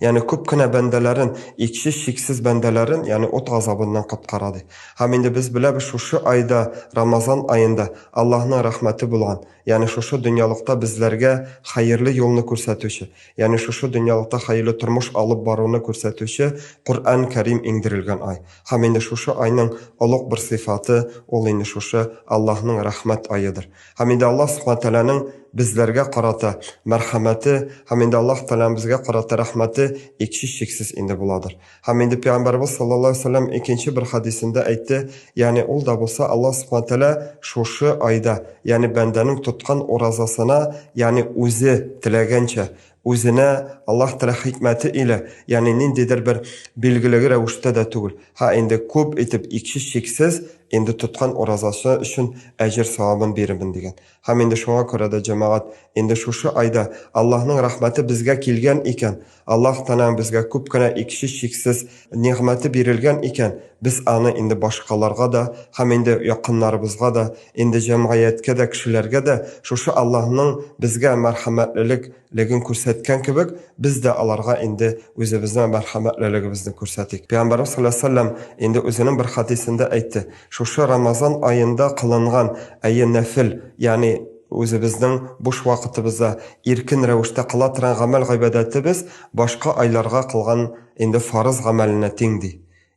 Яни күп кенә бәндәләрен, икче чиксез бәндәләрен, яни ут газабыннан коткара, ди. Һәм инде без беләбез, шушы айда, Рамазан аенда, Аллаһның рәхмәте булган, яни шушы дөньялыкта безләргә хәерле юлны күрсәтүче, яни шушы дөньялыкта хәерле тормыш алып баруны күрсәтүче Коръән Кәрим иңдерелгән ай. Һәм инде шушы айның олуг бер сыйфаты, ул инде шушы Аллаһның рәхмәт аедыр. Һәм инде Аллаһ Субхана Тәгаләнең безләргә карата мәрхәмәте һәм инде Аллаһ Тәгаләнең безгә карата рәхмәте икчи чиксез инде буладыр. Һәм инде Пәйгамбәрбез саллаллаһу алейһи ва сәлләм икенче бер хәдисендә әйтте, ягъни ул да булса Аллаһ Субхана Тәгалә шушы айда, ягъни бәндәнең тоткан уразасына, ягъни үзе теләгәнчә, Үзенә Аллаһ Тәгалә хикмәте илә, ягъни ниндидер бер билгелеге рәвештә дә түгел, һә инде күп итеп икче чиксез инде тоткан уразасы өчен әҗер савабын бирермен дигән. Һәм инде шуңа күрә дә, җәмәгать, инде шушы айда Аллаһның рәхмәте безгә килгән икән, Аллаһ Тәгаләң безгә күп кенә икче чиксез Нигъмәте бирелгән икән, без аны инде башкаларга да һәм инде якыннарыбызга да, инде җәмгыятькә дә, кешеләргә дә шушы Аллаһның безгә мәрхәмәтлелек леген күрсәткән кебек, без дә аларга инде үзебезнең мәрхәмәтлелегебезне күрсәтик. Пәйгамбәребез салләллаһу галәйһи ва сәлләм инде үзенең бер хәдисендә әйтте, шушы Рамазан аенда кылынган, әйе, нәфел, ягъни үзебезнең буш вакытыбызда иркен рәвештә кыла торган гамәл-гыйбадәтебез башка айларга кылган Инде фарыз гамәленә тиң, ди.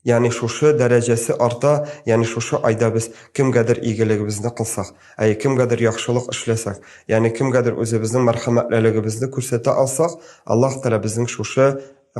Ягъни шушы дәрәҗәсе арта, ягъни шушы айда без кемгәдер игелегебезне кылсак, әйе, кемгәдер яхшылык эшләсәк, ягъни кемгәдер үзебезнең мәрхәмәтлелегебезне күрсәтә алсак, Аллаһ Тәгалә безнең шушы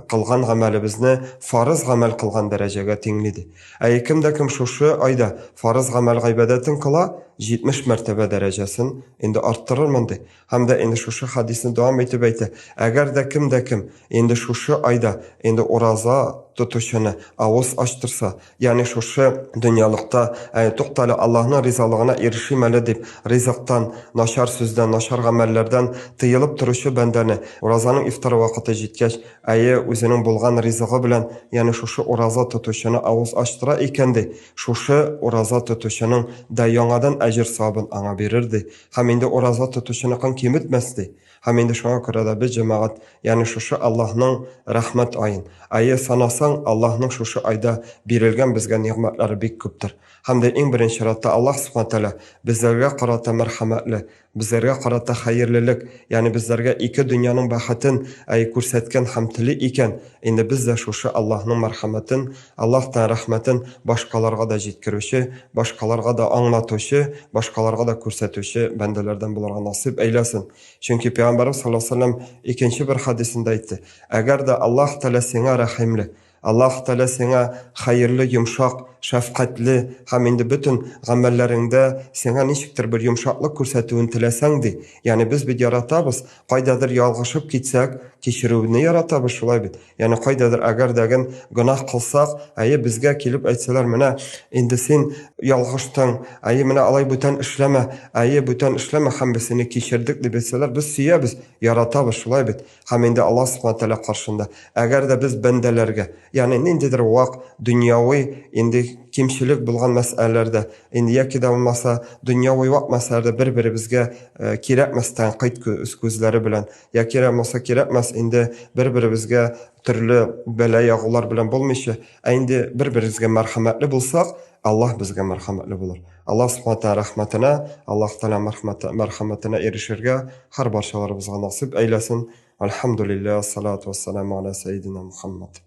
кылган гамәлебезне фарыз гамәл кылган дәрәҗәгә тиңли, ди. Әйе, кем дә кем шушы айда фарыз гамәл-гыйбадәтен кыла, 70 мәртәбә дәрәҗәсен инде арттырырмын, ди. Һәм дә инде шушы хадисне дәвам итеп әйтә, әгәр дә кем дә кем инде шушы айда инде ураза тотучыны авыз ачтырса, ягъни шушы дөньялыкта, әй, туктале, Аллаһның ризалыгына ирешим әле дип, ризыктан, начар сүздән, начар гамәлләрдән тыелып торучы бәндәне, уразаның ифтар вакыты җиткәч, әйе, үзенең булган ризыгы белән, ягъни шушы ураза тотучыны авыз ачтыра икән, ди, шушы ураза тотучының да яңадан әҗер-савабын аңа бирер, ди, Һәм инде ураза тотучыныкын киметмәс ди. Һәм инде шуңа күрә дә без, җәмәгать, ягъни шушы Аллаһның рәхмәт аен. Әйе, санасаң, Аллаһның шушы айда бирелгән безгә нигъмәтләре бик күптер. Һәм дә иң беренче чиратта Аллаһ Сүбхәнә Тәгалә безләргә карата мәрхәмәтле, безләргә карата хәерлелек, ягъни безләргә ике дөньяның бәхетен, әйе, күрсәткән һәм тели икән, инде без дә шушы Аллаһның мәрхәмәтен, Аллаһ та рәхмәтен башкаларга да җиткерүче, башкаларга да аңлатучы, башкаларга да күрсәтүче бәндәләрдән булырга насыйп әйләсен. Чөнки Пәйгамбәребез саллаллаһу алейһи ва сәлләм икенче бер хәдисендә әйтте, Әгәр дә Аллаһ Тәгалә сиңа рәхимле, Аллаһ Тәгалә сиңа хәерле, йомшак, шәфкатьле һәм инде бөтен гамәлләреңдә сиңа ничектер бер йомшаклык күрсәтүен теләсәң, ди, ягъни без бит яратабыз, кайдадыр ялгышып китсәк, кичерүне яратабыз, шулай бит? Яни кайдадыр әгәр дәген гынах кылсак, әйе безгә килеп әйтсәләр, менә инде син ялгыштың, әйе менә алай бүтән эшләмә, әйе бүтән эшләмә һәм без сине кичердек дип әйтсәләр, без сөябез, яратабыз шулай бит. Һәм инде Алла Субхана Тәгалә каршында. Әгәр дә без бәндәләргә, яни ниндидер вак дөньяви инде кимчелек булган мәсьәләләрдә, инде яки да булмаса дөньяви вак мәсьәләләрдә бер-беребезгә э, кирәкмәс тәнкыйть күзләре белән Я кирәкмаса кирәкмәс, инде бер-беребезгә төрле бәла ягулар белән булмыйча, ә инде бер-беребезгә мәрхәмәтле булсак, Аллаһ безгә мәрхәмәтле булыр. Аллаһ Субхана Тәгалә рәхмәтенә, Аллаһ Тәгалә мәрхәмәте, мәрхәмәтенә ирешергә һәр барчаларыбызга насыйп әйләсен. Әлхәмдүлилләһ, салату вәссәламү галә сәйидинә Мухаммад.